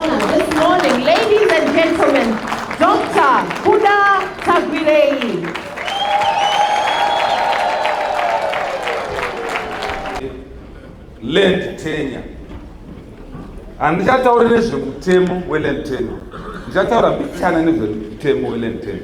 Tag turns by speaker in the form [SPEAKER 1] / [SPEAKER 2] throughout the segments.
[SPEAKER 1] This morning, ladies and gentlemen, Dr. Kuda Tagwirei. Land tenure. Handichatauri nezvemutemo weland tenure. Ndichataura mbichana nezvemutemo weland tenure.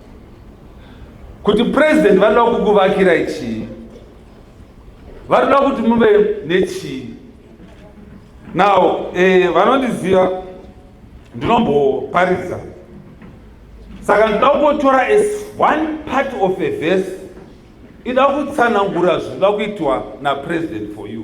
[SPEAKER 1] kuti president vanoda kukuvakirai chii vanoda kuti muve nechii now eh, vanondiziva ndinomboparidza saka ndinoda kungotora as one part of a verse ida kutsanangura zvinoda kuitwa napresident for you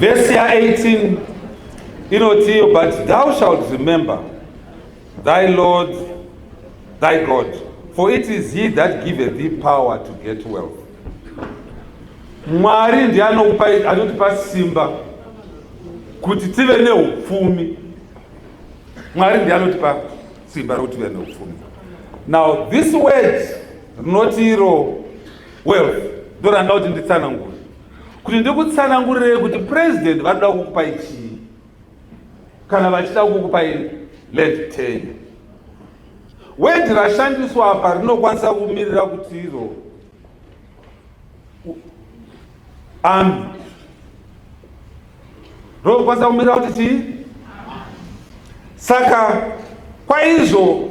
[SPEAKER 1] Vhesi ya 18 inotiyo, but thou shalt remember thy Lord thy God, for it is he that giveth thee power to get wealth. Mwari ndiye anokupa anotipa simba kuti tive neupfumi. Mwari ndiye anotipa simba rokuti tive neupfumi. Now this word rinoti iro well ndoranda kuti nditsanangure kuti ndikutsanangurirei kuti president vanoda kukupai chii kana vachida kukupai led ten wedi rashandiswa apa rinokwanisa kumirira kuti iro ami rinokwanisa kumirira kuti chii saka kwaizvo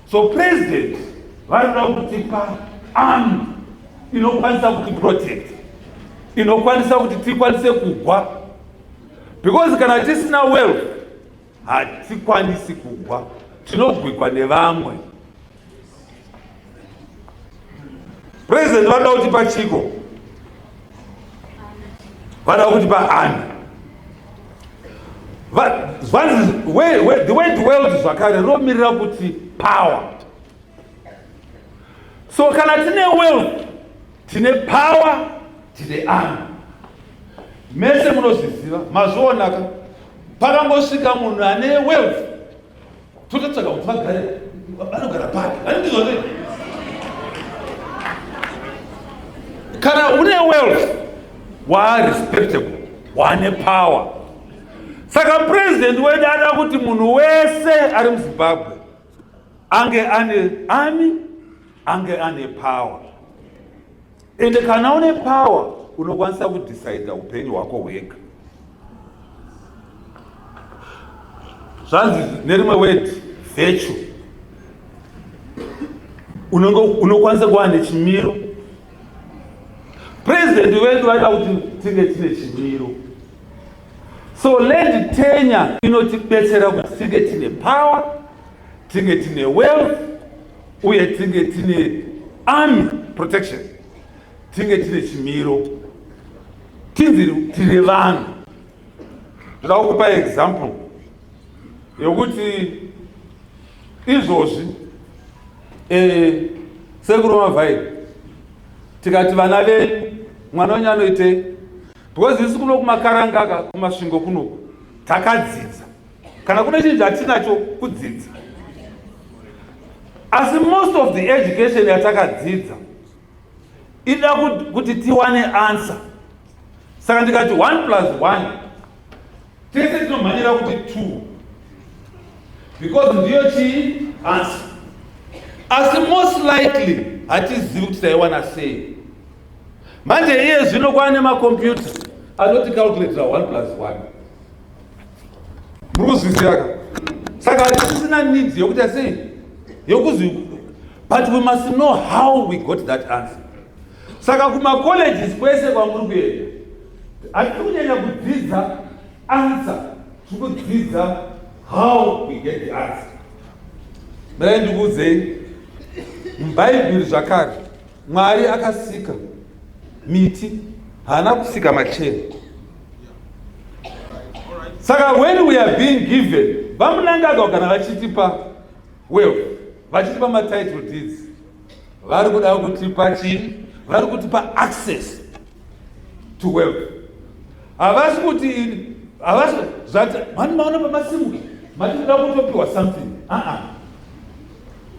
[SPEAKER 1] So president varikuda kutipa army inokwanisa kuti protect inokwanisa kuti tikwanise kugwa because kana tisina wealth hatikwanisi kugwa tinogwikwa nevamwe President vanoda kuti pachiko vanoda kuti paani the word world zvakare rinomirira kuti power so kana tine wealth tine power tine army mese munozviziva mazvionaka pakangosvika munhu ane wealth tototsvaga kuti vagare vanogara pake vanindizvone kana une wealth waarespectable wane power saka president wedu ada kuti munhu wese ari muzimbabwe ange ane ani ange ane power ende kana une power unokwanisa kudecide upenyu hwako hwega zvanzi nerimwe word virtue unokwanisa kuva nechimiro president wedu vaida kuti tinge tine chimiro so land tenya inotibetsera kuti tinge tine power tinge tine wealth uye tinge tine army protection tinge tine chimiro tinzi tiri vanhu ndoda kukupa example yokuti izvozvi eh, sekuru mavhairi tikati vana venyu mwana wenyu anoitei because isi kuno kumakarangaka kumasvingo kunoku takadzidza kana kune chinhu chatinacho kudzidza asi most of the education yatakadzidza ida kuti tiwane answer saka ndikati one plus one tese tinomhanyira kuti two because ndiyo chii answer asi most likely hatizivi kuti taiwana sei manje iye zvino kwaane makompyuta anoti calculatora one plus one muri kuzwisiraka saka hatisisina needs yokuita sei yokuzi but we must know how we got that answer saka kumacolleges kwese kwamuri kuenda hatiri kunyanya kudzidza answer tiri kudzidza how we get the answer mira ndikuudzei mubhaibheri zvakare mwari akasika miti haana kusika macheni saka when we are being given vamunangagwa kana vachitipa wealth vachitipa matitle deeds vari kuda kutipa chii vari kutipa access to wealth havasi kuti ini havasi zvati mani maona pamasimuka mati muda kutopiwa something aa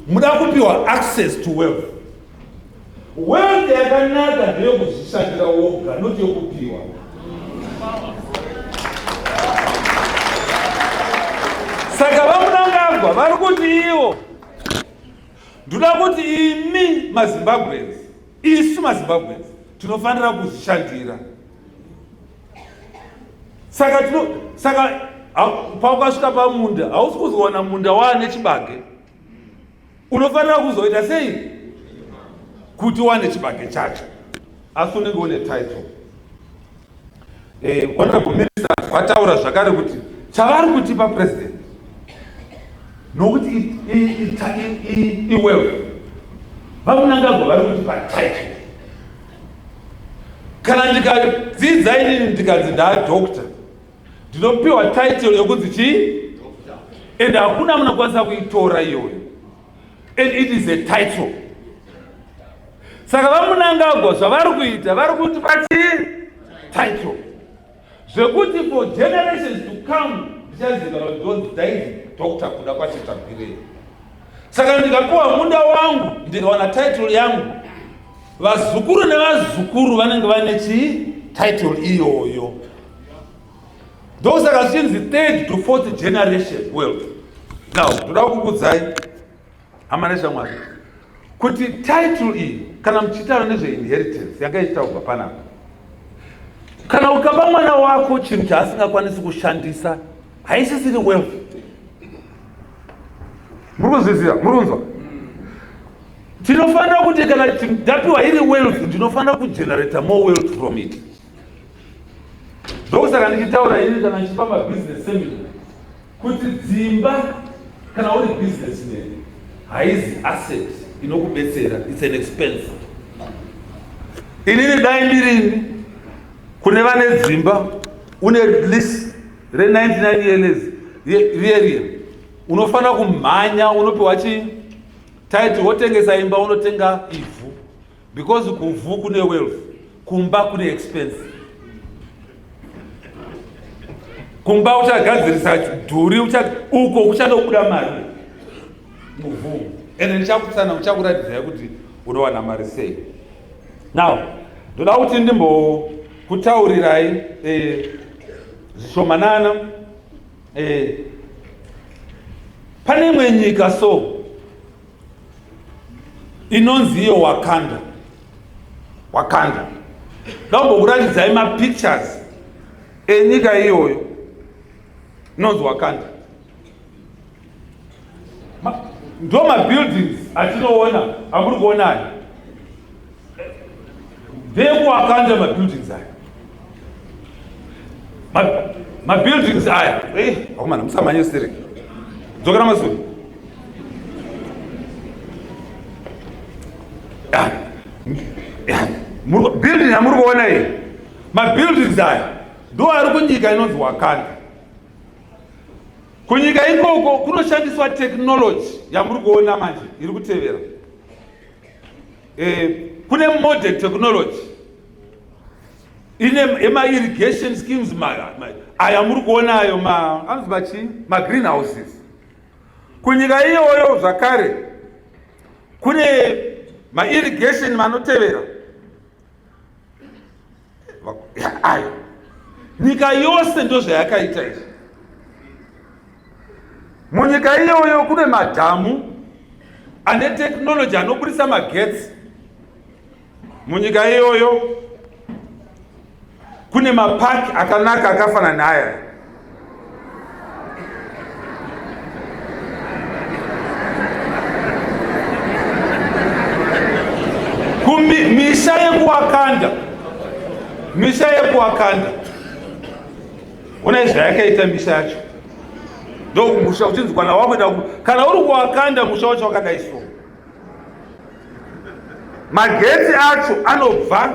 [SPEAKER 1] muda kupiwa access to wealth Wealth yakanaka ndeyokuzvishandira woga not yokupiwa. Saka vamunangagwa vari kuti ivo ndoda kuti imi mazimbabweans isu mazimbabweans tinofanira kuzvishandira saka tino saka paukasvika pamunda hausi kuzowana munda waane chibage unofanira kuzoita sei kuti wane chibage chacho asi unenge une title eh, honorable minister vataura zvakare kuti chavari kutipa president nokuti iwewe vamunangagwa vari kutipa title kana ndikadzidza inini ndikanzi ndaa doctor ndinopiwa title yokunzi chii and hakuna munokwanisa kuitora iyoyo and it is a title saka vamunangagwa zvavari kuita vari kuti vachii title zvekuti for generations to come ndichaziva kuti those daid doctor kuda kwachetabirei Saka ndikapiwa munda wangu ndikawana title yangu, vazukuru nevazukuru vanenge vane chii title iyoyo. Ndosaka zvichinzi third to fourth generation wealth. Now ndoda kukudzai hama neshamwari kuti title iyi kana muchitaura nezveinheritance yanga ichitaurwa panapa kana ukapa mwana wako chinhu chaasingakwanisi kushandisa haisisiri wealth muri kuzvizira muri kunzwa tinofanira kuti kana ndapiwa iri wealth ndinofanira kugenerata more wealth from it ndokusaka ndichitaura ini kana ndichipa mabusiness seminar kuti dzimba kana uri business man haizi asset inokubetsera its an expense inini dai ndirini kune vane dzimba une lease re 99 years riye riye unofanira kumhanya unopiwa chi title wotengesa imba unotenga ivhu because kuvhu kune wealth kumba kune expense kumba uchagadzirisa dhuri uko kuchatobuda mari muvhu ende ndichakutsana uchakuratidzai kuti unowana mari sei now ndoda kuti ndimbo kutaurirai eh, zvishomanana eh, pane imwe nyika so inonzi iyo wakanda wakanda ndakumbokuratidzai mapictures enyika iyoyo inonzi wakanda ndo mabuildings atinoona amuri kuona aya ndekuakanda mabuildings aya mabuildings aya eh, akomana musamhanye siri dzokera masuri ah, building amuri kuona iyi mabuildings aya ndo ari kunyika inonzi wakanda Kunyika ikoko kunoshandiswa technology yamuri kuona manje iri kutevera. Eh, kune modern technology ine ema irrigation schemes aya muri kuona ayo ma anzi machi ma greenhouses. Kunyika iyoyo zvakare kune ma irrigation manotevera ayo nyika yose ndozvayakaita izvi munyika iyoyo kune madhamu ane teknoloji anoburitsa magetsi munyika iyoyo kune mapaki akanaka akafanana naaya misa yekuwakanda misa yekuwakanda ona izva yakaita misa yacho ndokumusha uchinzi kwana wakuenda kana uri kuwakanda musha wacho wakadai so magetsi acho anobva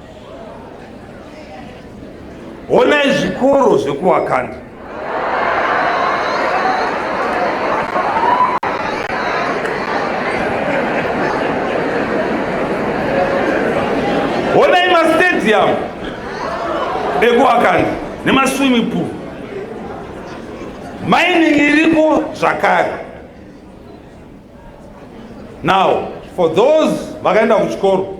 [SPEAKER 1] honai zvikoro zvekuwakanda honai mastadium ekuwakanda nemaswimming pool mining iriko zvakare now for those vakaenda kuchikoro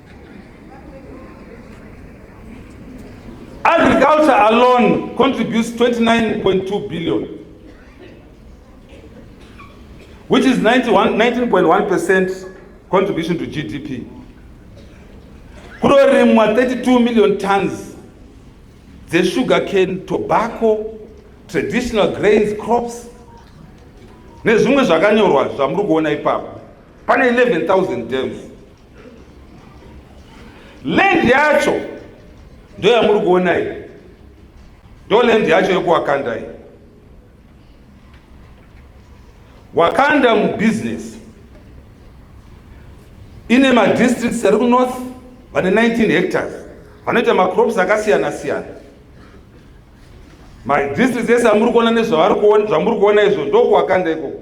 [SPEAKER 1] Agriculture alone contributes 29.2 billion, which is 19.1% contribution to GDP. Kurorimwa 32 million tons the sugar cane, tobacco, traditional grains, crops, nezvimwe zvakanyorwa zvamuri kuona ipapo pane 11000 dams Land yacho ndo yamuri kuona iyi, ndo land yacho yokuwakanda iyi. Wakanda mubusiness ine madistricts ari kunorth vane 19 hectares vanoita macrops akasiyana siyana. Madistricts ese amuri kuona nezvavari kuona zvamuri kuona izvo ndokuwakanda ikoko.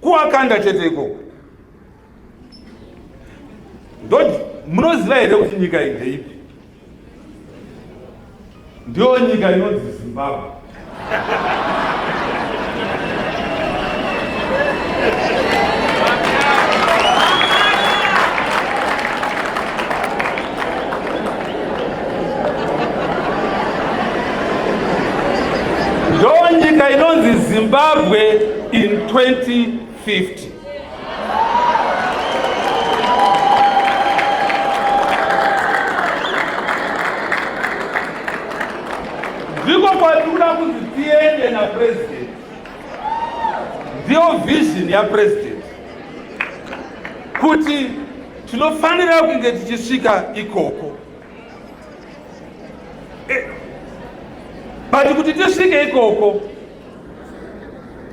[SPEAKER 1] kuwakanda chete ikoko ndo munoziva here kuti nyika iyi ndeipi ndiyo nyika inonzi zimbabwe ndonyika inonzi zimbabwe in 2050 ndiko kwatikuda kunzi tiende napresident ndiyo vision yapresident kuti Tinofanira kunge tichisvika ikoko. E, but kuti tisvike ikoko,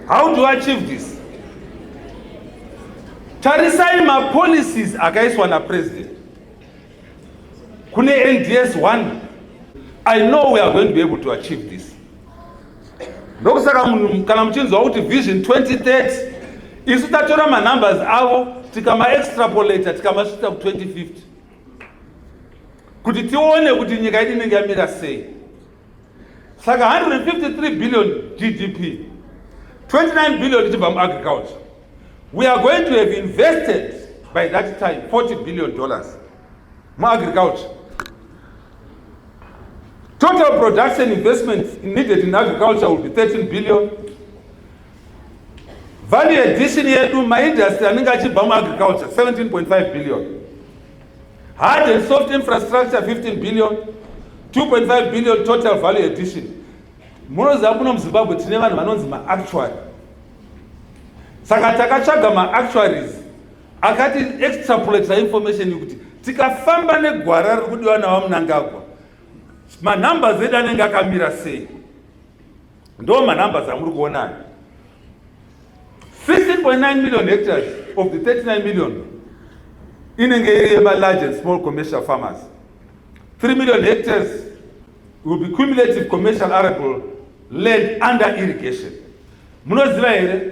[SPEAKER 1] how do I achieve this? Tarisai mapolicies akaiswa napresident kune NDS 1 I know we are going to be able to achieve this. ndokusaka munhu kana muchinzwa kuti vision 2030 isu tatora manumbers avo tikamaextrapolator tikamasvitsa ku2050 kuti tione kuti nyika yedu inenge yamira sei saka 153 billion gdp 29 billion ichibva muagriculture we are going to have invested by that time 40 billion dollars muagriculture total production investment needed in agriculture will be 13 billion value addition yedu maindustry anenge achibva muagriculture 17.5 billion hard and soft infrastructure 15 billion 2.5 billion total value addition munoziva muno muzimbabwe tine vanhu vanonzi maactuary saka takatsvaga maactuaries akati extrapolate information yekuti tikafamba negwara riri kudiwa navamunangagwa manumbers edu anenge akamira sei ndo manumbers amuri kuona ayo 16.9 million hectares of the 39 million inenge iri yemalarge and small commercial farmers 3 million hectares will be cumulative commercial arable land under irrigation munoziva here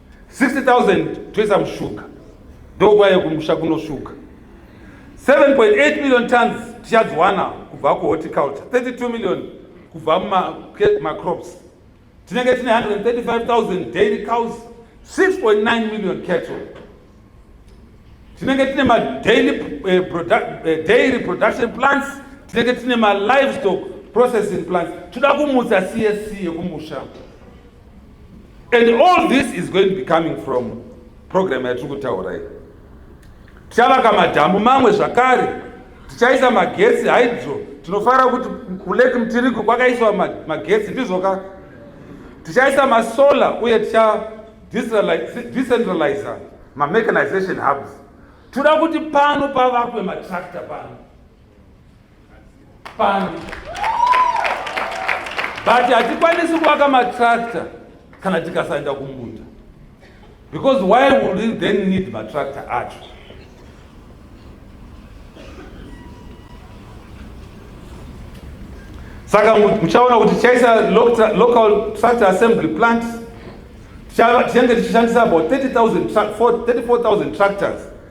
[SPEAKER 1] 60000 toisa mushuga ndokwaiye kumusha kunoshuga 7.8 million tons tichadziwana kubva kuhorticulture 32 million kubva mumacrops tinenge tine 135000 daily cows 6.9 million cattle tinenge tine madaily eh, produ eh, dairy production plants tinenge tine malivestock processing plants toda kumutsa csc yekumusha and all this is going to be coming from program yatiri kutaura iyi tichavaka madhamu mamwe zvakare tichaisa magetsi hydro tinofara kuti kulake mtiriko kwakaiswa magetsi ndizvoka tichaisa masolar uye ticha decentralizer mamechanization hubs toda kuti pano pavakwe matractor pano pano but hatikwanisi kuvaka matractor kana tikasaenda kumunda because why would we then need matractor acho saka muchaona kuti tichaisa local tractor assembly plant tichenge tichishandisa about 34000 tractors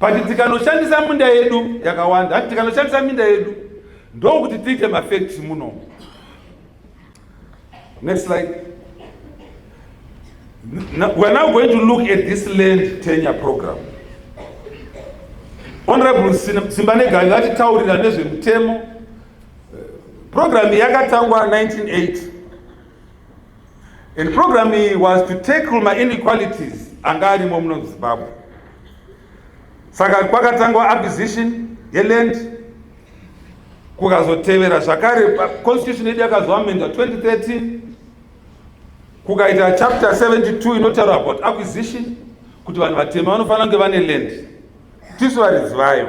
[SPEAKER 1] Pati tikanoshandisa minda yedu yakawanda, hati tikanoshandisa minda yedu ndokuti tiite mafacts muno. Next slide. Now, we're now going to look at this land tenure program. Honorable Simbanegai vatitaurira nezvemutemo. Eh, program yakatangwa 1980. And program iyi was to tackle my inequalities anga arimo muno muzimbabwe saka kwakatangwa acquisition yeland kukazotevera zvakare constitution yedu yakazoamendwa 2013 kukaita chapter 72 inotaura about acquisition kuti vanhu vatema vanofanira kunge vane land tisu varidzi vayo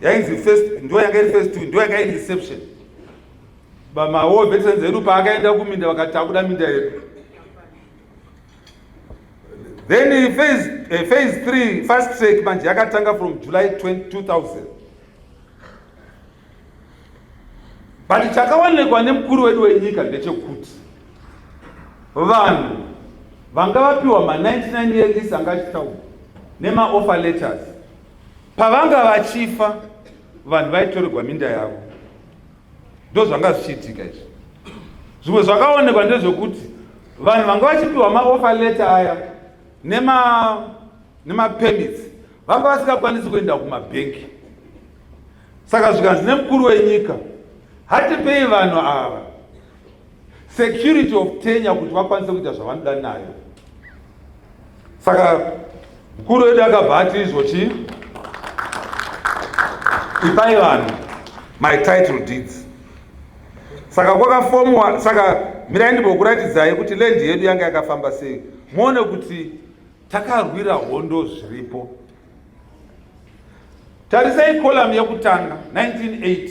[SPEAKER 1] yainzi first ndo yanga iri first ndo yanga iri reception bamawo veterans edu paakaenda kuminda vakati takuda minda yedu then phase, uh, phase three fast track manje yakatanga from july 2000 but chakaonekwa nemukuru wedu wenyika ndechekuti vanhu vanga vapiwa ma 99 years anga achitaura nemaoffer letters Pavanga vachifa vanhu vaitorerwa minda yavo, ndozvanga zvichiitika izvi. Zvimwe zvakaonekwa ndezvekuti vanhu vanga vachipiwa maofa leta aya nemapermits vanga vasingakwanisi kuenda kumabhengi saka zvikanzi nemukuru wenyika hatipei vanhu ava security of tenya kuti vakwanise kuita zvavanoda nayo saka mukuru wedu akabva ati izvo chii ipai vanhu my title deeds saka kwakafomwa saka mirai ndimbokuratidzai kuti lendi yedu yanga yakafamba sei muone kuti takarwira hondo zviripo tarisai kolamu yekutanga 1980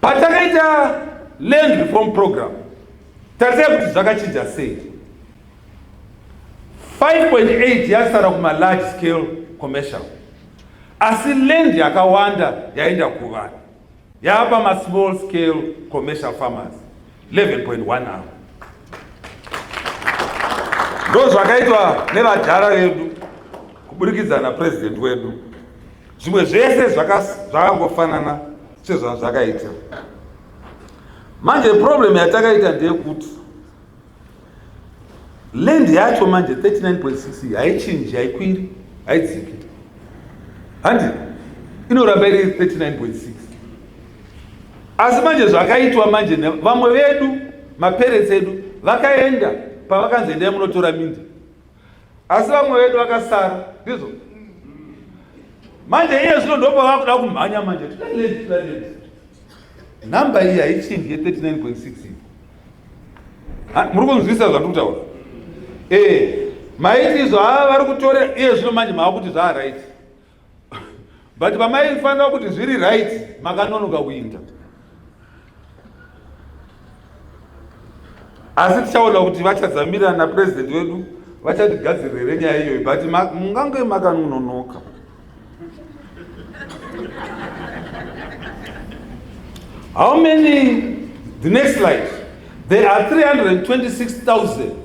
[SPEAKER 1] patakaita land reform program tarisai kuti zvakachinja sei 5.8 yasara kumalarge scale commercial asi land yakawanda yaenda kuvanhu yaapa masmall scale commercial farmers 11.1 avo ndozvakaitwa nevadhara vedu kuburikidza napresident wedu zvimwe zvese zvakangofanana sezvazvakaita manje problem yatakaita ndeyekuti land yacho manje 39.6 haichinji haikwiri haidziki handi inoramba iri 39.6 asi manje zvakaitwa manje vamwe vedu maparents edu vakaenda pavakanzi endai munotora minda asi vamwe vedu vakasara ndizvo manje iye zvino ndopa vakuda kumhanya manje number iyi haichinji ye 39.6 muri kunzwisa zvandiri kutaura ee eh, maiti izvo haa vari kutore iye zvino manje maakuti zvaaright but vamaifanira kuti zviri right makanonoka kuinda asi tichaona kuti vachazamira napresident wedu vachatigadzirire nyaya iyoyi but mungange makanonoka how many the next slide there are 326000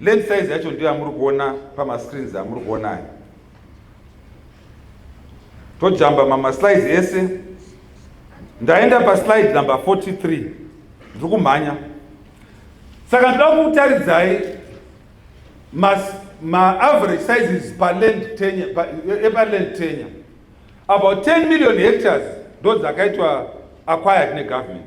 [SPEAKER 1] Lens size yacho ndiyo yamuri kuona pamascreens amuri kuona aya. Tojamba mama slides ese. Ndaenda pa slide number 43. Ndiri kumhanya. Saka ndoda kukutaridzai mas ma average sizes pa land tenya pa, eh, pa land tenya about 10 million hectares ndo dzakaitwa acquired ne government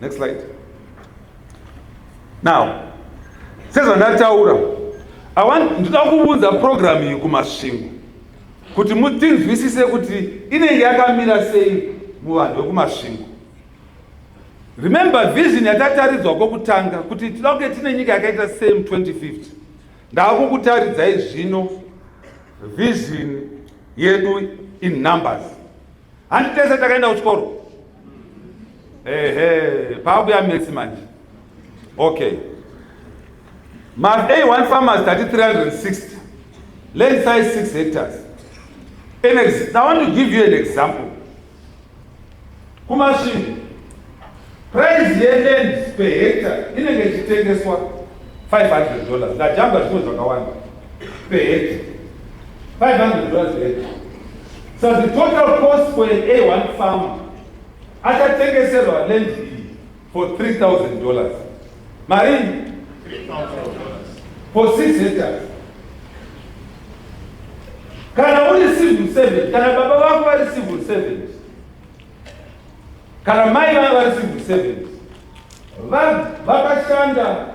[SPEAKER 1] Next slide. Now, sezvandataura, I want ndinoda kuvunza program iyi kumasvingo kuti mutinzwisise kuti inenge yakamira sei muvanhu vekumasvingo. Remember vision yatataridzwa kwokutanga kuti tinoda kunge tine nyika yakaita sei mu 2050. Ndakukutaridzai zvino vision yedu in numbers. Handitese takaenda kuchikoro. ehe pakuya mesi manje okay mavei one farmers tati 360 land size 6 hectares an ex i want to give you an example kumasvingo price yeland per hectare inenge ichitengeswa 500 dollars ndajamba zvimwe zvakawanda Perhaps 500 dollars rate. So the total cost for an A1 farm achatengeserwa land iyi for 3000 dollars. Marini? 3000 dollars. For 6 hectares. Kana uri civil servant, kana baba vako vari civil servant, kana mai vavo vari civil servant, vakashanda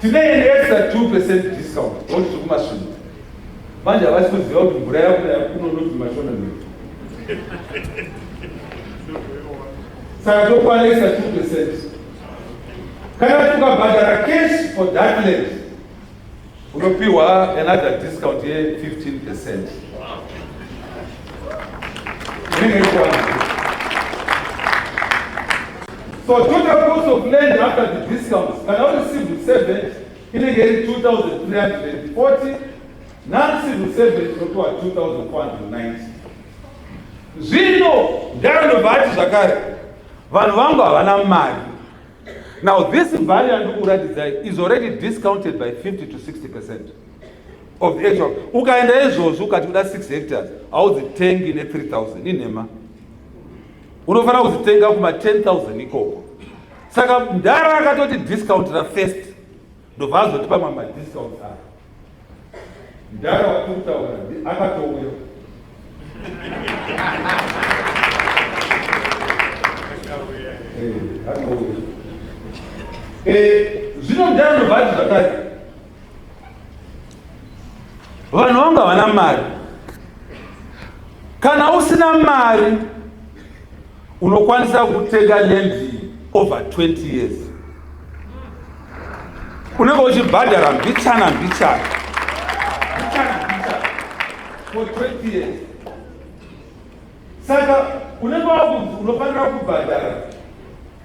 [SPEAKER 1] Tine an extra 2 percent discount ngokuti tiri kumasvingo manje havasi kuziva kuti mvura yakunaya kuno noti mashona noti saka tokwana extra 2 percent kana tukabhadhara cash for that land Unopiwa another discount ye 15%. Inenge ikwana. So total cost of land after the discounts kana uri civil servant inenge iri 2340 non civil servant unopiwa 2490. Zvino ndarondobva ati zvakare vanhu vangu havana mari now this value yandikuratidzai is already discounted by 50 to 60 percent of the actual ukaenda izvozvi ukati kuda 6 hectares haudzitengi ne 3000 inhema unofanira kudzitenga kuma 10000 ikoko saka mdhara akatoti discount rafirst ndobva azotipa mama discounts aya mdara watiri kutaura akatouya zvino mdara ndobva ati zvakati vanhu vangu havana mari kana usina mari Unokwanisa kutenga land over 20 years. Unenge uchibhadhara mbichana mbichana. Mbichana mbichana. For 20 years. Saka unenge wakuti unofanira kubhadhara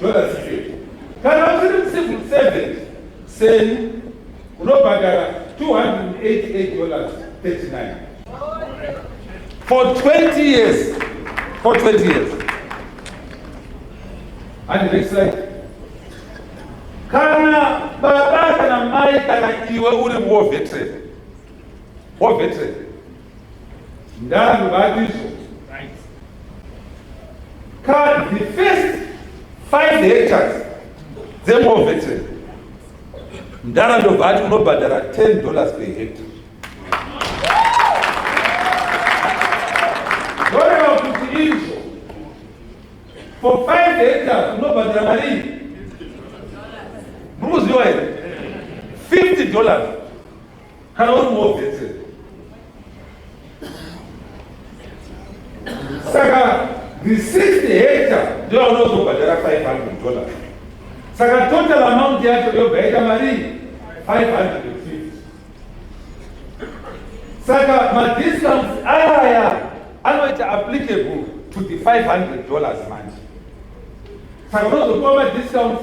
[SPEAKER 1] Brother Secret. Kana usiri mucivil servant seni unobhadhara 288 dollars 39 for 20 years for 20 years and next slide kana baba kana mai kana iwe uri war veteran war veteran Ndangu vatizo. Cut the first five hectares dzemove ndara ndobva ati unobhadhara 10 dollars per hectare for five hectares unobhadhira marii muri kuziva here 50 dollars Kana uri mozete. Saka the sixth hectare ndiyo unozobhadhara 500 dollars. Saka total amount yacho yobva yaita mari 500 saka madiscounts aya anoita applicable to the 500 dollars manje saka unozopiwa madiscounts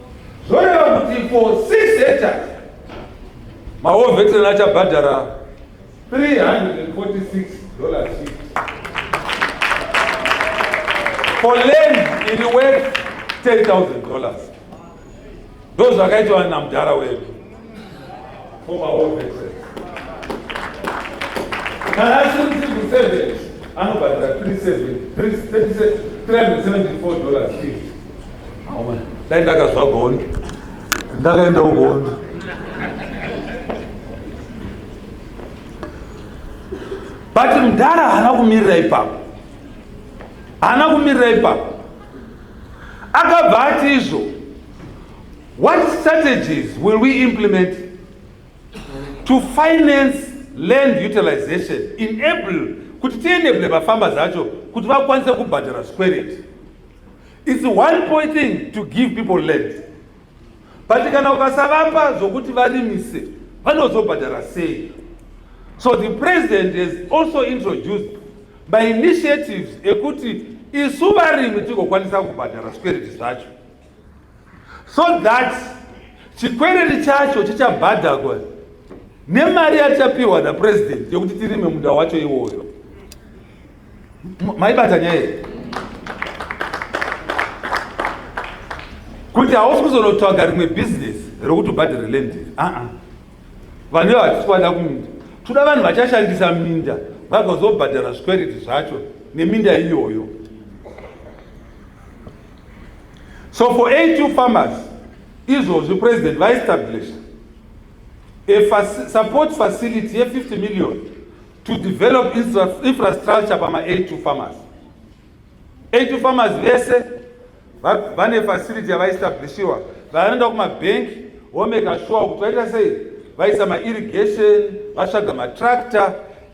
[SPEAKER 1] zvoreva kuti for six hectares mawo veteran achabhadhara 346 dollars for land iri worth 10000 dollars ndozvakaitwa namudhara wedu Former All Veterans. Kana asiri mucivil servant anobhadhara 374 dollars dai ndakazwa gondo ndakaenda ugondo but mdhara haana kumirira ipapo haana kumirira ipapo akabva ati izvo What strategies will we implement to finance land utilization enable kuti tienable vafamba zacho kuti vakwanise kubhadhara zvikwereti its one point thing to give people land but kana ukasavapa zvokuti varimise vanozobhadhara sei so the president has also introduced mainitiatives ekuti isu varimi tigokwanisa kubhadhara zvikwereti zvacho so that chikwereri chacho chichabhadhagwa nemari yatichapiwa napresident yekuti tirime munda wacho iwoyo maibata nyaya iyi kuti hausi kuzonotsvaga rimwe bhizinesi rekutobhadhara land aa vane vatiswana kuminda toda vanhu vachashandisa minda vagozobhadhara zvikwereti zvacho neminda iyoyo so for a2 farmers izvozvi president vaestablisha a support facility ye50 million to develop infrastructure pama82 farmers 82 farmers vese vane facility yavaestablishiwa vanoenda kumabhenki womeka shuwa kuti vaita sei vaisa mairrigation vatsvaga matractor